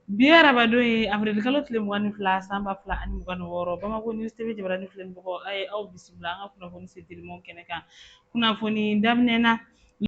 Bi ye arabadon ye avril kalo tile mugan ni fila san ba fila ani mugan ni wɔɔrɔ Bamako News TV jabaranin filɛ ni bɔkɔ a ye aw bisimila an ka kunnafoni se telimanw kɛnɛ kan kunnafoni daminɛ na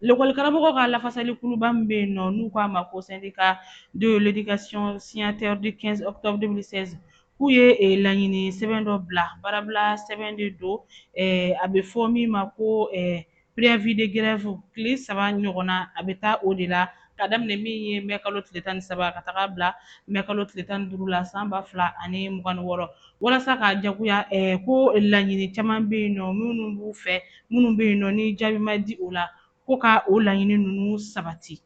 lekɔli karamɔgɔ ka lafasali kuluba min bɛ yen nɔ n'u k'a ma ko syndicat de l'éducation signataire du 15 octobre 2016 k'u ye eh, laɲini sɛbɛn dɔ bila baarabila sɛbɛn de don eh, a bɛ fɔ min ma ko eh, préavis de grève tile saba ɲɔgɔnna a bɛ taa o de la ka daminɛ min ye mɛ kalo tile tan ni saba ka taga bila mɛ kalo tile tan ni duuru la san ba fila ani mugan ni wɔɔrɔ walasa ka jagoya eh, ko laɲini caman bɛ yen nɔ minnu b'u fɛ minnu bɛ yen nɔ ni jaabi ma di o la ko ka o laɲini ninnu sabati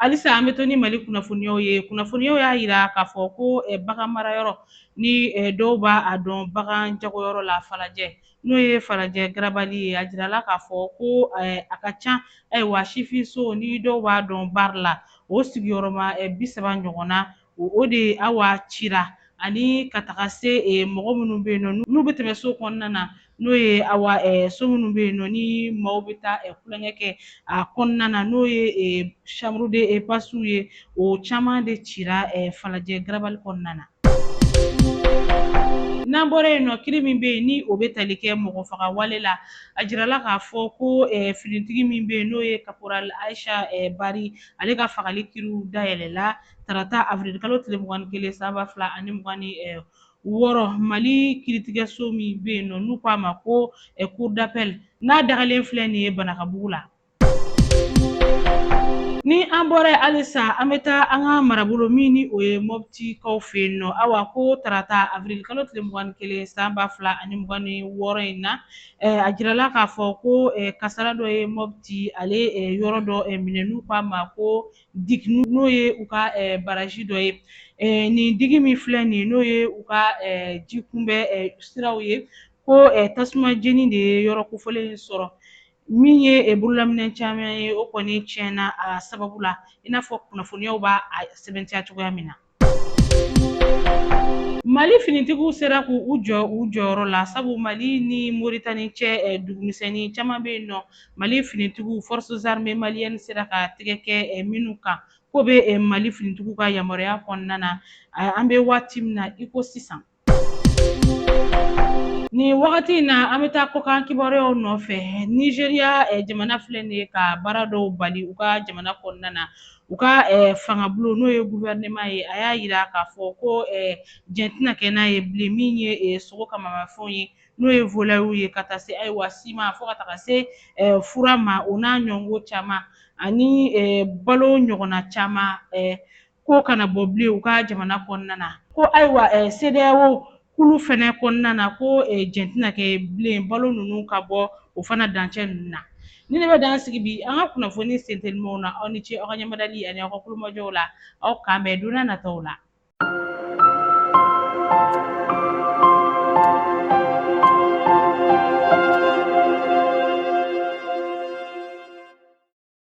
halisa an bɛ to ni mali kunnafoniyaw ye kunnafoniyaw y'a jira k'a fɔ ko eh, bagan mara yɔrɔ ni eh, dɔw b'a dɔn bagan jagoyɔrɔ la falajɛ n'o ye falajɛ garabali ye a jirala k'a fɔ ko eh, a ka ca ayiwa sifinso ni dɔw b'a dɔn bari la o sigiyɔrɔma bi saba ɲɔgɔnna o de awa cira ani ka taga se mɔgɔ minnu bɛ yen nɔ n'u bɛ tɛmɛ so kɔnɔna na n'o ye awa so minnu bɛ yen nɔ ni maaw bɛ taa kolonya kɛ a kɔnɔna na n'o ye chambre de passe ye o caman de cira falajɛ garabali kɔnɔna na. N'an bɔra yen nɔ kiri min bɛ yen ni o bɛ tali kɛ mɔgɔfagawale la a jirala k'a fɔ ko finitigi min bɛ yen n'o ye caporal Ayisa Bari ale ka fagali kiriw dayɛlɛla. tarata avril kalo tile mugan ni kelen san ba fila ani mugan ni wɔɔrɔ mali kiritigɛso min bɛ yen nɔ n'u k'a ma ko cour d'appel n'a dagalen filɛ nin ye banankabugu la ni an bɔra yen halisa an bɛ taa an ka marabolo min ni o ye mɔptikaw fɛ yen nɔ awa ko tarata avril kalo tile mugan ni kelen san ba fila ani mugan ni wɔɔrɔ in na a jirala k'a fɔ ko kasara dɔ ye mɔpti ale yɔrɔ dɔ minɛ n'u k'a ma ko digi n'o ye u ka baraji dɔ ye nin digi min filɛ nin ye n'o ye u ka ji kunbɛ siraw ye ko tasuma jeni de ye yɔrɔ kofɔlen in sɔrɔ min ye bololaminɛn caman ye o kɔni tiɲɛna a sababu la i n'a fɔ kunnafoniyaw b'a sɛbɛntiya cogoya min na Mali finitigiw sera k'u jɔ u jɔyɔrɔ la sabu Mali ni Moritani cɛ ɛ dugumisɛnnin caman bɛ yen nɔ Mali finitigiw forces armées maliennes sera ka tɛgɛ kɛ ɛ minnu kan k'o bɛ ɛ Mali finitigiw ka yamaruya kɔnɔna na ɛ an bɛ waati min na i ko sisan Nin wagati in na an bɛ taa kɔkan kibaruyaw nɔfɛ Nizeriya jamana filɛ nin ye ka baara dɔw bali u ka jamana kɔnɔna na u ka fangabulon n'o ye gouvernement ye a y'a yira k'a fɔ ko jɛn tɛna kɛ n'a ye bilen min ye sogo kamanmafɛnw ye n'o ye volayiw ye ka taa se ayiwa siman fo ka taga se fura ma o n'a ɲɔgɔnko caman ani balo ɲɔgɔnna caman k'o kana bɔ bilen u ka jamana kɔnɔna na ko ayiwa CEDEAO kulu fɛnɛ kɔnɔna na ko jɛn tɛna kɛ bilen balo ninnu ka bɔ o fana dancɛ ninnu na nin de bɛ dan sigi bi an ka kunnafoni sentelimanw na aw ni ce aw ka ɲɛmadali ani aw ka kulomajɔw la aw k'an bɛn don nataw la